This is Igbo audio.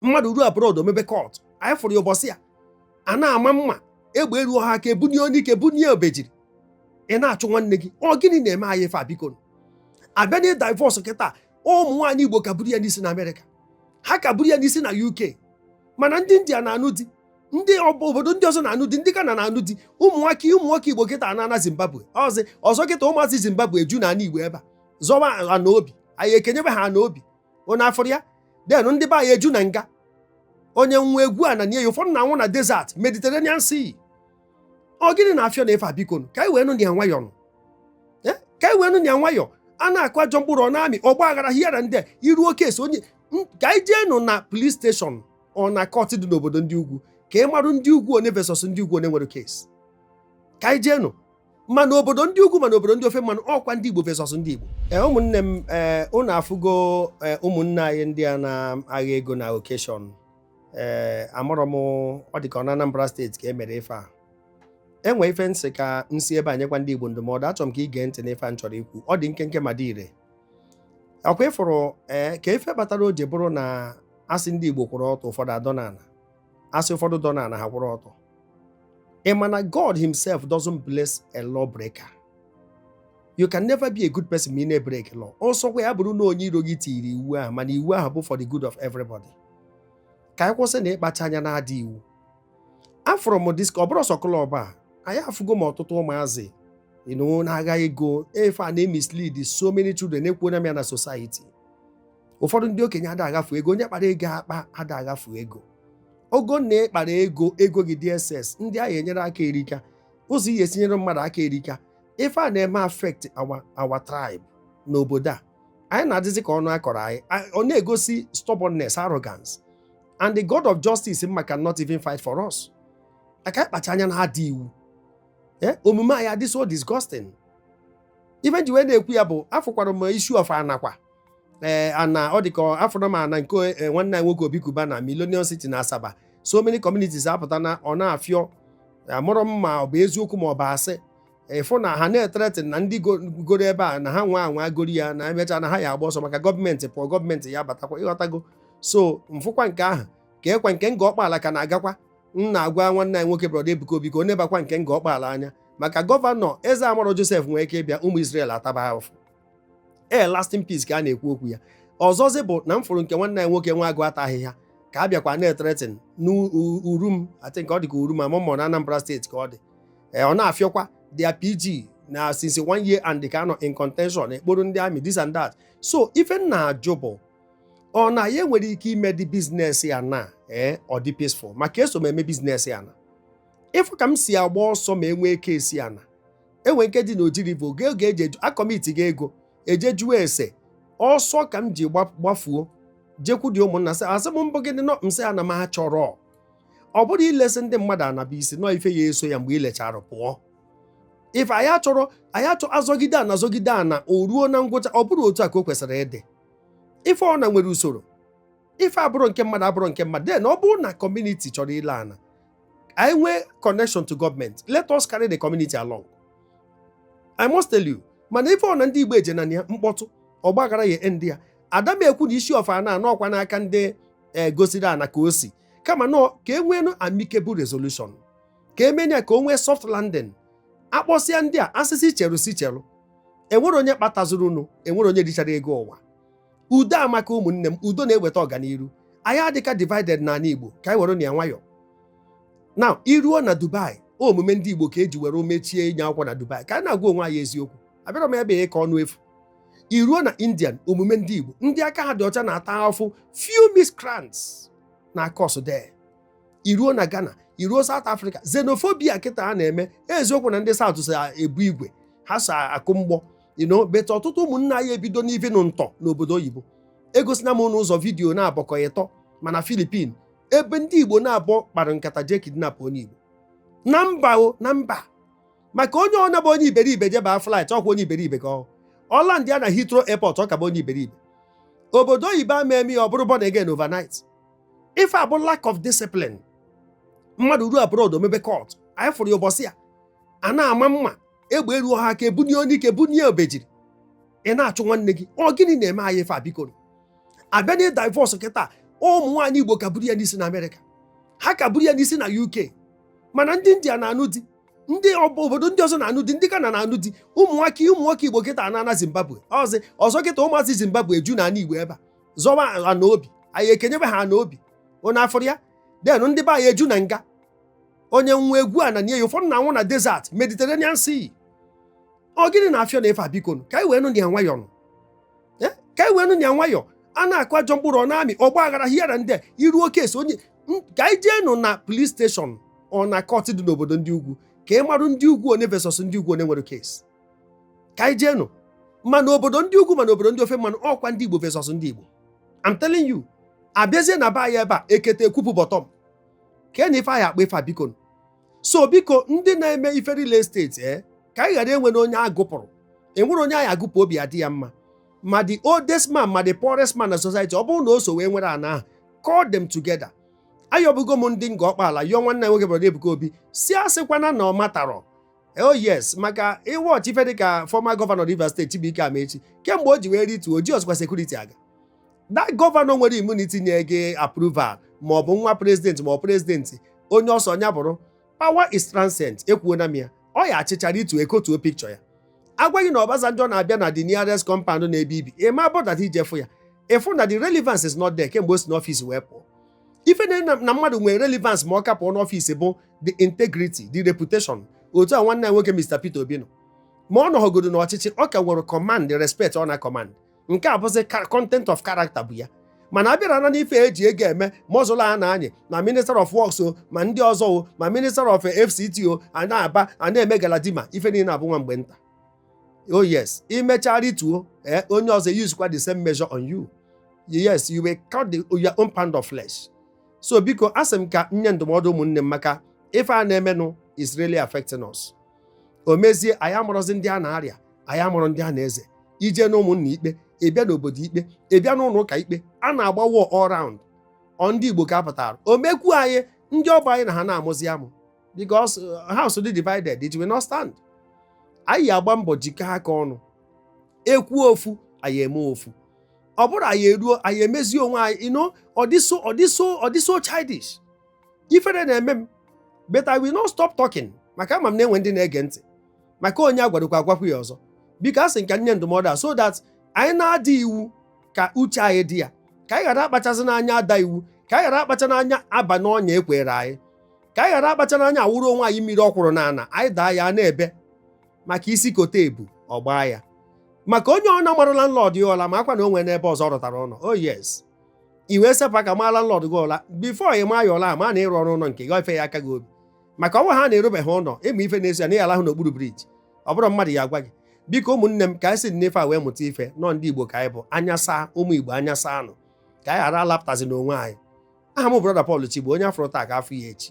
mmadụ ruo abroad o mebe cult anyị fụrụ ya ụbọchị ya a na-ama mma egbe eruo ha aka ebunye anyụike bunye obejiri ị na-achụ nwanne gị ọ gịnị na-eme anyị ife a biko a bịa na divorce kịta ụmụ nwaanyị igbo ka buru ya n'isi na America ha ka buru ya n'isi na UK mana ndị India na-anụ di ndị obodo ndị ọzọ na-anụ di ndị Ghana na-anụ di ụmụ nwoke ụmụ nwoke Igbo kịta ana na Zimbabwe ọzọ kịta ụmụazị Zimbabwe eju na ana Igbo ebe a zọwa ana obi anyị ekenyebe ha ana obi onye afụrọ ya then ndị be anyị eju na nga onye nwụa egwuo ana nie ya ụfọdụ na-anwụ na desert mediterranean sea ọ gịnị na-afịọ na ife a biko ka anyị wee nụ ya nwayọọ nụ eh? ka anyị wee nụ ya nwayọọ a na-akụ ajọ mkpụrụ ọ na-amị ọgba aghara hiara ndị iru oke esi onye ka anyị jee nụ na police station ọ na court dị n'obodo ndị ugwu ka ị marụ ndị ugwu one versus ndị ugwu one nwere case ka anyị jee nụ ma n'obodo ndị ugwu ma n'obodo ndị ofe mmanụ ọkwa ndị Igbo versus ndị Igbo ee ụmụnne m ee ụnụ afụgo ụmụnne anyị ndị a na-agha ego na occasion ee amarọ m ọ dị ka ọ na Anambra state ka e mere ife a enwe ife m sị ka m si ebe a nyekwa ndị Igbo ndụmọdụ achọrọ m ka i gee ntị n'ife a m chọrọ ikwu ọ dị nkenke ma dị ire ọkwa ị fụrụ ee ka ife kpatara o ji bụrụ na asị ndị Igbo kwụrụ ọtọ ụfọdụ adọ n'ala asị ụfọdụ dọ na ha kwụrụ ọtọ ị ma na God himself doesn't bless a law breaker you can never be a good person ma ị na-ebreak law ọsọkwa ya bụrụ na onye iro gị tiri iwu ahụ mana iwu ahụ bụ for the good of everybody ka anyị kwụsị na ịkpacha anya na-ada iwu afụrụ m disk ọ bụrọ sọ club a anyị afụgo m ọtụtụ ụmụazị na-agha ego ife a na-emislead so many children ekwuona m ya na society ụfọdụ ndị okenye ada aghafu ego onye kpara ego akpa ada aghafu ego ogo na ị kpara ego ego gị DSS ndị ahụ enyere aka erika ụzọ ihe esi enyere mmadụ aka erika ife a na-eme affect our our tribe n'obodo a anyị na-adịzi ka ọnụ akọrọ anyị ọ na-egosi stubbornness arrogance and the god of justice nwa can not even fight for us maka ịkpacha anya na-ada iwu eh, omume anyị adị so disgusting ife m ji wee na-ekwu ya bụ afụkwara m issue of anakwa ee ana ọ dị ka afụrụ m ana nke eh, nwanne anyị nwoke Obi Cubana Millennium City na Asaba so many communities apụta na ọ na-afịọ amarọ m ma ọ bụ eziokwu ma ọ bụ asị ịfụ na ha na-ethreaten ndị go- goro ebe a na ha nwa anwa goro ya na emecha na ha ya agba ọsọ maka gọọmenti pụọ gọọmenti ya batakwa ịghọtago so m fụkwa nke ahụ ka ekwa nke Ngor Okpala ka na-agakwa m na-agwa nwanne anyị nwoke Brother Ebuka Obi ka ọ nebakwa nke Ngor Okpala anya maka governor eze amarọ Joseph nwere ike ịbịa ụmụ Israel ataba ahụfụ ee lasting peace ka a na-ekwu okwu ya ọzọzi bụ na m fụrụ nke nwanne anyị nwoke nwa agụ ata ahịhịa ka a bịakwa na-etretin n'Urum I think ọ dị ka Urum a mụmụ na Anambra steeti ka ọ dị ee ọ na-afịọkwa their PG na since one year and ka anọ in contention a kpọrọ ndị army this and that so ife m na-ajụ bụ onye nwere ike ime dị business ana ee ọ dị peaceful maka eso m eme business ana ị fụ ka m si agba ọsọ ma enwee case ana enwere nke dị na ojiribo oge oge eji eju akọmiti gị ego eje jụọ ese ọsọ ka m ji gba- gbafuo jekwudị ụmụnna sị asị m mbụ gịnị nọ m sị ana m achọrọ ọ bụrụ ilesị ndị mmadụ anaba isi nọ ife ya eso ya mgbe ilechara pụọ ife anyị achọrọ anyị achọ azọgide ana azọgide ana o ruo na ngwụcha ọ bụrụ otu a ka o kwesịrị ịdị ife ọbụna nwere usoro ife bụrụ nke mmadụ ọ bụrụ nke mmadụ then ọ bụrụ na community chọrọ ile ana anyị nwee connection to government let us carry the community along I must tell you mana ife ọbụna ndị Igbo eje na ya mkpọtụ ọgbaghara ya ndị ya ada m ekwu na isi ọfa na anọ ọkwa n'aka ndị e, gosiri ana ka o si kamana ka e nwee amicable resolution ka emenya ka o nwee soft landing akpọsịa ndị a a sị sị cheru sị cheru enwere onye kpatazurunụ enwere onye richara ego ụwa udo amaka ụmụnne m udo na-eweta ọganiru anyị adịka divided n'ana Igbo ka anyị werenụ ya nwayọọ na i ruo na Dubai omume ndị Igbo ka eji were emechie inye akwụkwọ na Dubai ka anyị na-agwa onwe anyị eziokwu abịara m ebe ka ọnụ efu i ruo na Indian omume ndị Igbo ndị aka ha dị ọcha na-ata afụfụ few miscreants na kọs dee i ruo na Ghana i ruo South Africa xenophobia kịta a na-eme eziokwu na ndị South so ebu igwe ha so akụ mgbọ you know but ọtụtụ ụmụnna anyị ebido n'ivi nụ ntọ n'obodo oyibo egosina m n'ụzọ vidiyo naabọ ka ọ ịtọ ma na Filipin ebe ndị Igbo naabọ kpara nkata jee kidnap onye Igbo na mba o na mba maka onye ọbụna bụ onye iberibe jeba flight ọkwa onye iberibe ka ọ ọ landịa na Heathrow airport ọ ka bụ onye iberibe obodo oyibo ama eme ya ọ bụrụ born again overnight ife a bụ lack of discipline mmadụ ruo abroad o mebe cult anyị fụrụ ya ụbọchị a a na-ama mma egbe elu ọha ka ebunye onye ike bunye obejiri ị na-achụ nwanne gị ọ gịnị na-eme anyị ife a biko a bịa na divorce kịta ụmụ nwaanyị igbo ka buru ya n'isi na amerịka ha ka buru ya n'isi na uk mana ndị india na-anụ di ndị obodo ndị ọzọ na-anụ di ndị ghana na-anụ di ụmụ nwoke ụmụ nwoke igbo kịta na-ana zimbabwe ọzọ ọzọ kịta ụmụazị zimbabwe ju na ana igbo ebe a zọba ana obi anyị ekenyebe ha ana obi onye afọrọ ya then ndị be anyị eju na nga onye nwe egwu a na nye ya ụfọdụ na-anwụ na desert Mediterranean Sea ọ gịnị na-afịọ n'ebe a biko ka anyị wee nụ ya nwayọọ nụ eh? ka anyị wee nụ ya nwayọọ a na-akụ ajọ mkpụrụ ọ na-amị ọgba aghara hiara ndị a iru oke esi onye ka anyị jee nụ na police station ọ na kọt dị n'obodo ndị ugwu ka ị marụ ndị ugwu onye versus ndị ugwu onye nwere kesi ka anyị jee nụ ma n'obodo ndị ugwu ma n'obodo ndị ofe mmanụ ọkwa ndị Igbo versus ndị Igbo I'm telling you abịazie na be anyị ebe a ekete ekwupụ bọtọm ka na ife anyị akpa ife biko so biko ndị na-eme ife real estate ee eh, ka anyị ghara enwena onye agụpụrụ enwerọ onye a ya-agụpụ obi adị ya mma ma the oldest man ma the poorest man na society ọ bụrụ na o so wee nwere ana ahụ call them together ayọbugo m ndị Ngor Okpala yọọ nwanne nwoke brọda Ebuka Obi sị asịkwana na ọ matarọ oh yes maka ị watch ife dịka former gọvanọ Rivers steeti Chibuike Amaechi kemgbe o ji wee rituo o jirozikwa sekuriti aga that gọvanọ nwere immunity nye gị approval ma ọ bụ nwa prezidenti ma ọ prezidenti onye ọ sọ nya bụrụ power is transient ekwuona m ya ọ ya-achịcha rituo ekotuo pikchọ ya a gwa gị na Obasanjo na-abịa na the nearest compound n'ebe i bi ị ma bother ije fụ ya ị fụ na the relevance is not there kemgbe o si n'ọfịs wee pụọ ife na mmadụ nwere relevance ma ọ ka pụọ n'ọfịs bụ the integrity the reputation otu a nwanne anyị nwoke Mr Peter Obi nọ ma ọ nọghọgodo n'ọchịchị ọ ka nwere command respect ọ na command nke a bụzi content of character bụ ya mana abịara na n'ife eji ego eme muscle a na-anyị ma minister of works o ma ndị ọzọ o ma minister of fct o a na-aba a na-eme galadima ife niile a bụ nwa mgbe nta oh yes i mechaa rituo ee onye ọzọ yuzikwa the same measure on you yes you will cut the, your own pound of flesh so biko asị m ka nye ndụmọdụ ụmụnne m maka ife a na-emenụ is really affecting us o mezie anyị abụrụzi ndị a na-arịa anyị abụrụ ndị a na-eze i jee n'ụmụnna ikpe ị bịa n'obodo ikpe ị bịa n'ụlọ ụka ikpe a na-agba all round ọ ndị Igbo ka apụtara o mekwu anyị ndị ọ bụ anyị na ha na-amụzi amụ because a house dị divided it will not stand anyị agba mbọ jikọ aka ọnụ ekwu ofu anyị eme ofu ọ bụrụ anyị eruo anyị emezie onwe anyị you know ọ dị so ọ dị so ọ dị so childish ifere na-eme m but I will not stop talking maka ama m na enwe ndị na-ege ntị maka onye a gwarụkwa agwakwu ya ọzọ biko asị m ka nye ndụmọdụ a so that anyị na-ada iwu ka uche anyị dị ya ka anyị ghara akpachazina anya ada iwu ka anyị ghara akpachana anya aba n'ọnya ekwere anyị ka anyị ghara akpachana anya awụrụ onwe anyị mmiri ọkwụrụ n'ala anyị daa ya na-ebe maka isi kote ebu ọ gbaa ya maka onye ọ na-amarụ landlord ya ụla makwa na o nwena ebe ọzọ ọ rụtara ụlọ oh yes i wee sepụ aka maa landlord gị ụla bifo ị maa ya ụla a ma na ị rụrụ ụlọ nke gị ife ya aka gị obi maka ọ bụrụ na ị rụbeghị ụlọ ị ma ife na-esi ya na ị ya-alahụ n'okpuru briji ọ bụrọ mmadụ ya-agwa gị biko ụmụnne m ka anyị si n'ife a wee mụta ife na ọ ndị igbo ka anyị bụ anya saa ụmụ igbo anya saanụ ka anyị ghara alapụtazina onwe anyị aha m brọda Paul Chigbo onye a fụrụ taa ka a fụ ya echi